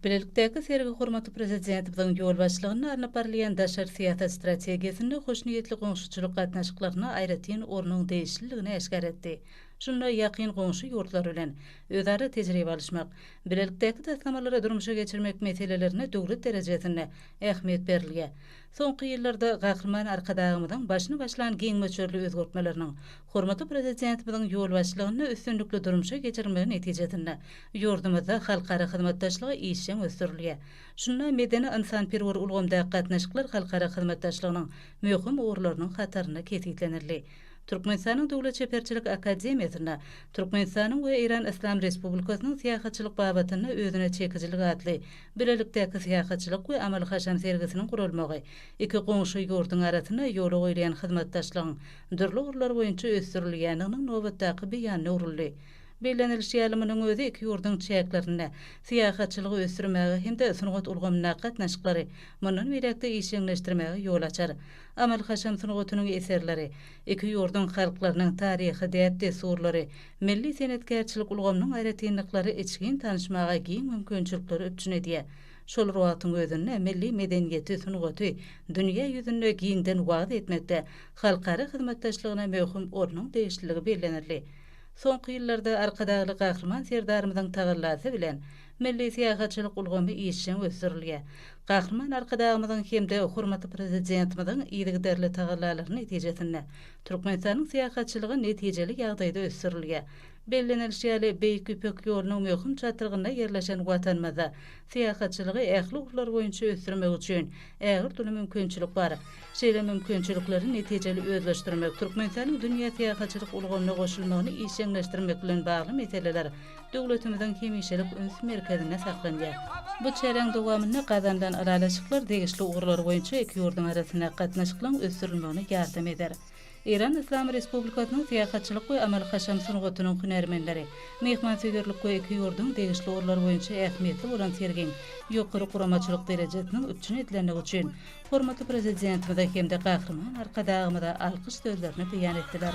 Bilelikdäki sergi hormatly Prezidentimiziň ýolbaşçylygynda alnyp barylýan daşary syýasat strategiýasynda hoşniýetli goňşuçylyk gatnaşyklaryna aýratyn ornuň degişliligini äşgär etdi. Şunda ýakyn goňşy ýurtlar bilen özara tejribe alyşmak, bilelikdäki taslamalary durmuşa geçirmek meselelerine döwlet derejesinde ähmiýet berilýär. Soňky ýyllarda Gahryman Arkadagymyzyň başyny başlan giň möçberli özgertmeleriniň, Hormatly Prezidentimiziň ýolbaşçylygynda üstünlikli durmuşa geçirilmegi netijesinde, ýurdumyzda halkara hyzmatdaşlygy işjeň ösdürilýär. Şunda medeni-ynsanperwer ulgamdaky gatnaşyklar halkara hyzmatdaşlygynyň möhüm ugurlarynyň hatarynda kesgitlenildi. Türkmenistanyň Döwlet çeperçilik akademiýasynda Türkmenistanyň we Eýran Yslam Respublikasynyň syýahatçylyk babatynda özüne çekijilik atly bilelikdäki syýahatçylyk we amaly-haşam sergisiniň guralmagy iki goňşy ýurduň arasynda ýola goýulýan hyzmatdaşlygyň dürli ugurlar boýunça ösdürilýändiginiň nobatdaky beýanyna öwrüldi. Bellenilişi ýaly, munuň özi iki ýurduň çäklerinde syýahatçylygy ösdürmäge hem-de sungat ulgamyndaky gatnaşyklary mundan beýläk-de işjeňleşdirmäge ýol açar. Amal-haşam sungatynyň eserleri, iki ýurduň halklarynyň taryhy däp-dessurlary, milli senetkärçilik ulgamynyň aýratynlyklary içgin tanyşmaga giň mümkinçilikleri üpjün edýär. Şol bir wagtyň özünde milli medeniýeti, sungaty dünýä ýüzünde giňden wagyz etmekde halkara hyzmatdaşlygyna möhüm ornuň degişliligi bellenildi. Soňky ýyllarda Arkadagly Gahryman Serdarymyzyň tagallasy bilen milli syýahatçylyk ulgamy işjeň ösdürilýär. Gahryman Arkadagymyzyň hem-de hormatly Prezidentimiziň yzygiderli tagallalary netijesinde Türkmenistanyň syýahatçylygy netijeli ýagdaýda ösdürilýär. Bellenilişi ýaly, Beýik Ýüpek ýolunyň möhüm çatrygynda ýerleşen Watanymyzda syýahatçylygy ähli ugurlar boýunça ösdürmek üçin ägirt uly mümkinçilik bar. Şeýle mümkinçilikleri netijeli özleşdirmek, Türkmenistanyň dünýä syýahatçylyk ulgamyna goşulmagyny işjeňleşdirmek bilen bagly meseleler döwletimiziň hemişelik üns merkezinde saklanýar. Bu çäräň dowamynda gazanylan ylalaşyklar degişli ugurlar boýunça iki ýurduň arasyndaky gatnaşyklaryň ösdürilmegine ýardam eder. Eýran Yslam Respublikasynyň syýahatçylyk we amal-haşam sungatynyň hünärmenleri, myhmansöýerlik we iki ýurduň degişli ugurlary boýunça ähmiýetli bolan sergiň ýokary guramaçylyk derejesiniň üpjün edilendigi üçin hormatly Prezidentimize hem-de Gahryman Arkadagymyza alkyş sözlerini beýan etdiler.